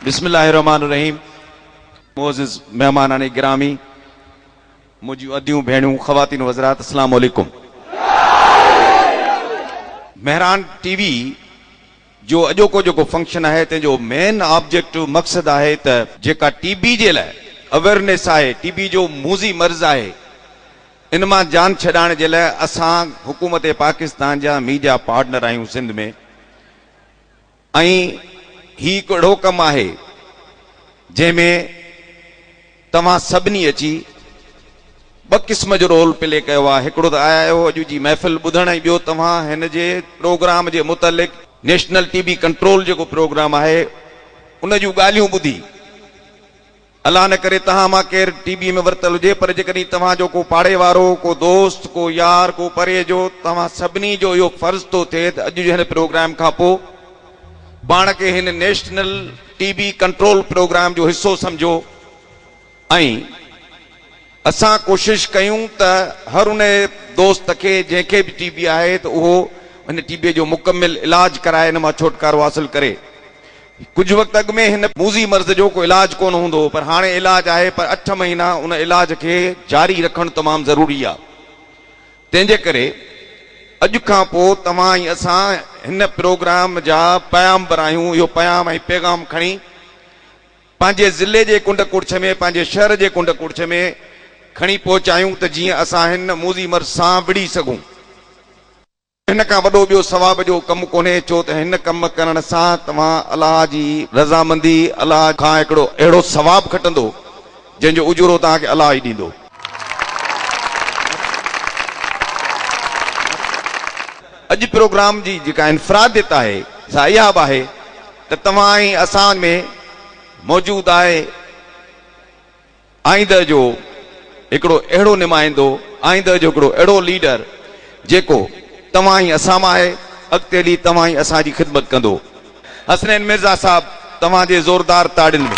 بسم الله الرحمٰن الرحيم معزز مهمانان گرامي منهنجيون اديون ڀيڻيون خواتين و حضرات اسلام عليڪم مهران ٽي وي جو اڄوڪو جيڪو فنڪشن آهي تنهن جو مين آبجيڪٽ مقصد آهي ته جيڪا ٽي بي جي لاء اويرنيس آهي ٽي بي جو موذي مرض آهي ان مان جان ڇڏائڻ جي لاء اسان حڪومت پاڪستان جا ميڊيا پارٽنر آهيون سنڌ ۾ ۽ هي هڪ اهڙو ڪم آهي جنهن ۾ توهان سڀني اچي ٻه قسم جو رول پلي ڪيو آهي هڪڙو ته آيا آهيو اڄ جي محفل ٻڌڻ ۽ ٻيو توهان هن جي پروگرام جي متعلق نيشنل ٽي بي ڪنٽرول جيڪو پروگرام آهي ان جون ڳالهيون ٻڌي الله نه ڪري توهان مان ڪير ٽي بي ۾ ورتل هجي پر جيڪڏهن توهان جو ڪو پاڙي وارو، ڪو دوست، ڪو يار، ڪو پري جو، توهان سڀني جو اهو فرض ٿو ٿئي ته اڄ جي هن پروگرام کان پوء پاڻ کي هن national T B control programme جو حصو سمجهو ۽ اسان ڪوشش ڪيون ته هر ان دوست کي جنهن کي به ٽي بي آهي ته اهو هن ٽي بي جو مڪمل علاج ڪرائي ان مان ڇوٽڪارو حاصل ڪري. ڪجهه وقت اڳ ۾ هن موذي مرض جو ڪو علاج ڪونه هوندو هو پر هاڻي علاج آهي پر اٺ مهينا ان علاج کي جاري رکڻ تمام ضروري آهي تنهن جي ڪري اڄ کان پوء توهان ۽ اسان هن پروگرام جا پيامبر آهيون اهو پيام ۽ پيغام کڻي پنهنجي ضلعي جي ڪنڊ ڪڙڇ ۾ پنهنجي شهر جي ڪنڊ ڪڙڇ ۾ کڻي پهچايون ته جيئن اسان هن موذي مرض سان وڙهي سگهون. هن کان وڏو ٻيو ثواب جو ڪم ڪونهي، ڇو ته هن ڪم ڪرڻ سان توهان الله جي رضامندي، الله کان هڪڙو اهڙو ثواب کٽندو، جنهن جو اجورو توهان کي الله ئي ڏيندو. اڄ پروگرام جي جيڪا انفراديت آهي، سا اها به آهي ته توهان ۽ اسان ۾ موجود آهي. آئينده جو هڪڙو اهڙو نمائندو، آئينده جو هڪڙو اهڙو ليڊر جيڪو توهان ۽ اسان مان آهي، اڳتي هلي توهان ۽ اسان جي خدمت ڪندو. حسنين مرزا صاحب توهان جي زوردار تاڙين ۾.